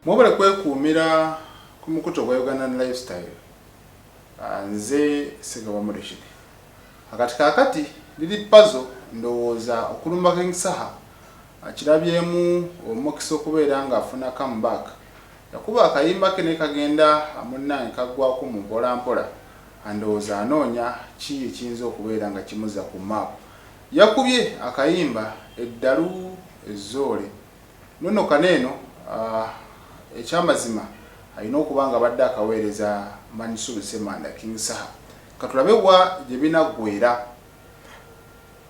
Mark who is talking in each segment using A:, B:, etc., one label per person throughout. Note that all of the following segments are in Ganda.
A: mwobale kwekuumira ku mukutu ogwa ugandan lifestyle ah, nze segabamulekire akati kakati liri pazo ndowooza okulumba kengisaha akirabyemu ah, omukisa okubeera nga afuna comeback yakuba akayimba ke nekagenda amunnange kaggwako mu mpolampola andowooza anoonya ki ekiyinza okubeera nga kimuza ku maapu Yakubye akayimba eddalu ezzoole nonokana eno ekyamazima alina okuba ng'abadde akaweereza Mansoor Ssemanda, King Saha. Katulabe wa gye binaggweera.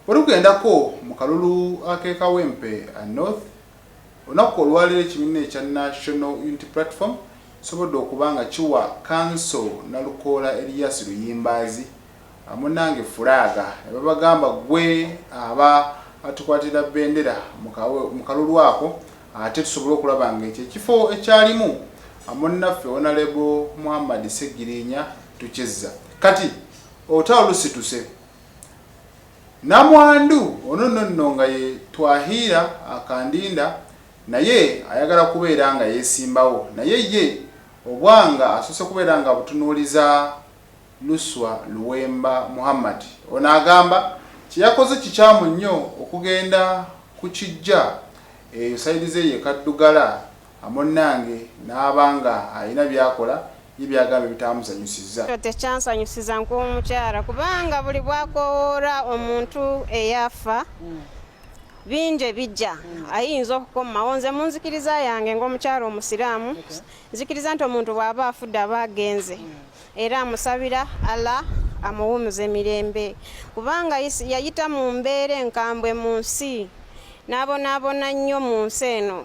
A: Bwe tugendako mu kalulu ak'e Kawempe North, olunaku olwaleero ekibiina ekya National Unity Platform kisobodde okuba nga kiwa Kanso Nalukoola Elias Luyimbaazi Munange furaaga nebabagamba gwe aba atukwatira bendera mukalulu ako ate tusobole okulaba nga ekyo ekifo ekyalimu munnaffe honalebo Muhammad Ssegirinya tukizza kati olutalo lusituse namwandu ono nonno nga ye Twahiira Kandinda naye ayagala kubeera nga yesimbawo naye ye obwanga asoose kubeera nga abutunuuliza Luswa Luwemba Muhammad. Ono agamba kye yakoze kikyamu nnyo okugenda ku kiggya eyo sayidi ze ye Kaddugala amunnange n'aba nga alina by'akola ye by'agamba ebitaamusanyusizza. Ekyo tekyansanyusiza
B: nk'omukyala kubanga buli bw'akoowoola omuntu eyafa bingi ebigya ayinza okukomawo. Nze mu nzikiriza yange ng'omukyala Omusiraamu nzikiriza nti omuntu bw'aba afudde aba agenze era amusabira ala amuwumuze mirembe kubanga yayita mu mbeera enkambwe mu nsi n'abonaabona nnyo mu nsi eno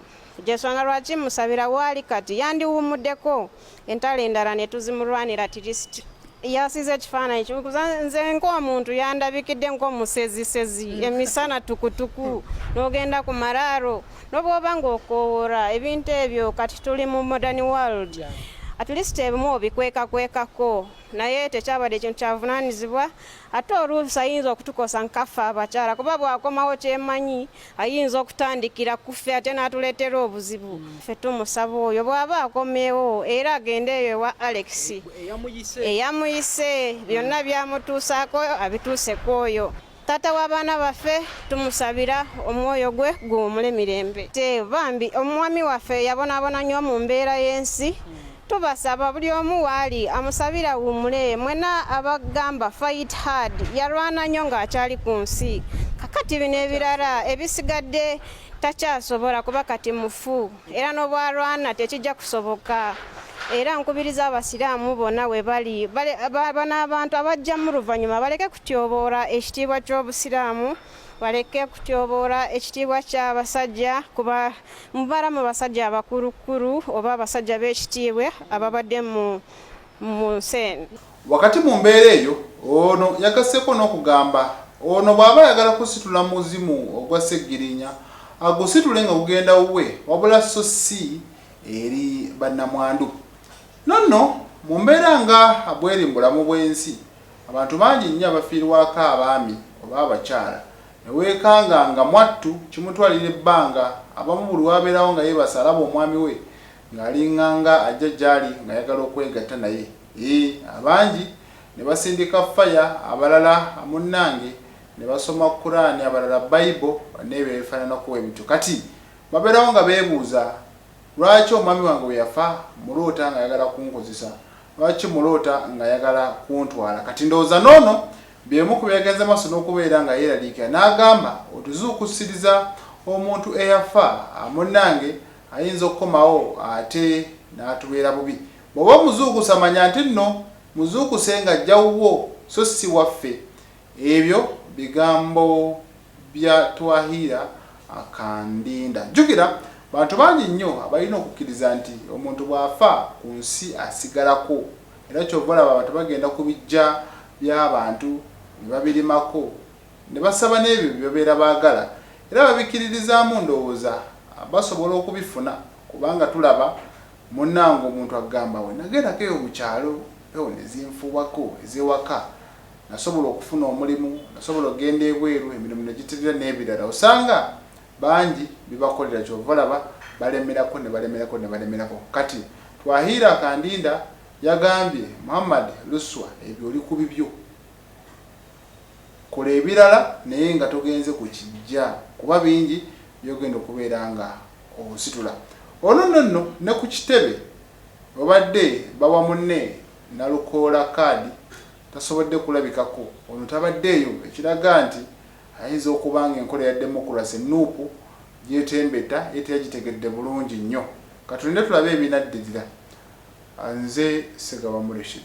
B: gyensonga lwaki musabira waali kati yandiwumuddeko entalo endala ne tuzimulwanira tirisiti yasize ekifaananyi kimu nze ng'omuntu yandabikidde ng'omusezisezi mm. emisana tukutuku n'ogenda ku maraaro n'obwoba ng'okoowora ebintu ebyo kati tuli mu modern world at least ebimu obikwekakwekako naye tekyabadde ekintu kyavunaanyizibwa ate oluusi ayinza okutukosa nkaffe abakyala kuba bwakomawo kyemanyi ayinza okutandikira ku ffe ate n'atuleetera obuzibu mm. ffe tumusaba oyo bw'aba akomeewo era agende eyo ewa alex eyamuyise byonna mm. byamutuusaako abituuse ku oyo taata w'abaana baffe tumusabira omwoyo gwe guwumule mirembe te bambi omwami waffe yabonaabona nnyo mu mbeera y'ensi mm. tubasaba buli omu waali amusabira wumule mwena abagamba fight hard yalwana nnyo ng'akyali ku nsi kakati bino ebirala ebisigadde takyasobola kuba kati mufu era n'obwalwana tekijja kusoboka era nkubiriza abasiraamu bonna we bali bano abantu abajjamu luvannyuma baleke kutyoboola ekitiibwa ky'obusiraamu baleke kutyoboola ekitiibwa ky'abasajja kuba mubala mu basajja abakulukulu oba abasajja b'ekitiibwa ababadde mu nsi eno wakati mu
A: mbeera eyo ono yagasseko n'okugamba ono bw'aba ayagala kusitula muzimu ogwa sseggirinya agusitule nga gugenda wuwe wabula so si eri bannamwandu nonno mu mbeera nga bweri mu bulamu bw'ensi Abantu bangi nnyo abafiirwako abaami oba abakyala ne weekanga nga mwattu kimutwalira ebbanga abamu buli w'abeerawo nga yeebase alaba omwami we ng'alinganga ajja gy'ali ng'ayagala okwegatta naye ii abangi ne basindika ffaya abalala munnange ne basoma Kuraani abalala Bayibo n'ebyo ebifaananako bwe bityo kati babeerawo nga beebuuza Lwaki omwami wange bwe yafa mmuloota ng'ayagala kunkozesa? Lwaki mmuloota ng'ayagala kuntwala? Kati ndowooza n'ono bye bimu ku byagenze mu maaso n'okubeera nga yeeraliikira n'agamba, Otuzuukusiriza omuntu eyafa munnange ayinza okukomawo ate n'atubeera bubi. Bw'oba omuzuukusa manya nti nno muzuukuse ng'ajja wuwo so si waffe. Ebyo bigambo bya Twahiira Kandinda. Jjukira bantu bangi nnyo abalina okukkiriza nti omuntu bw'afa ku nsi asigalako era ky'ova olaba abantu bagenda ku biggya by'abantu ne babirimako ne basaba n'ebyo bye babeera baagala era babikkiririzaamu ndowooza basobola okubifuna kubanga tulaba munnange omuntu akugamba we nagendako eyo mu kyalo empewo ne zinfuuwako ez'ewaka nasobola okufuna omulimu, nasobola okugenda ebweru emirimu ne giterera n'ebirala osanga bangi bibakolera ky'ova olaba balemerako ne balemerako ne balemerako. Kati Twahiira Kandinda yagambye Muhammad Luswa ebyo oli ku bibyo, kola ebirala naye nga togenze ku kiggya kuba bingi by'ogenda okubeera nga ositula. Ono nno nno ne ku kitebe obadde bawa munne Nalukoola kaadi tasobodde kulabikako, ono tabaddeeyo ekiraga nti ayinza okuba ng'enkola ya demokulase nup gy'etembeta ye teyagitegedde bulungi nnyo. Ka tulinde tulabe ebinaddirira. Nze Ssegawa Mureshid.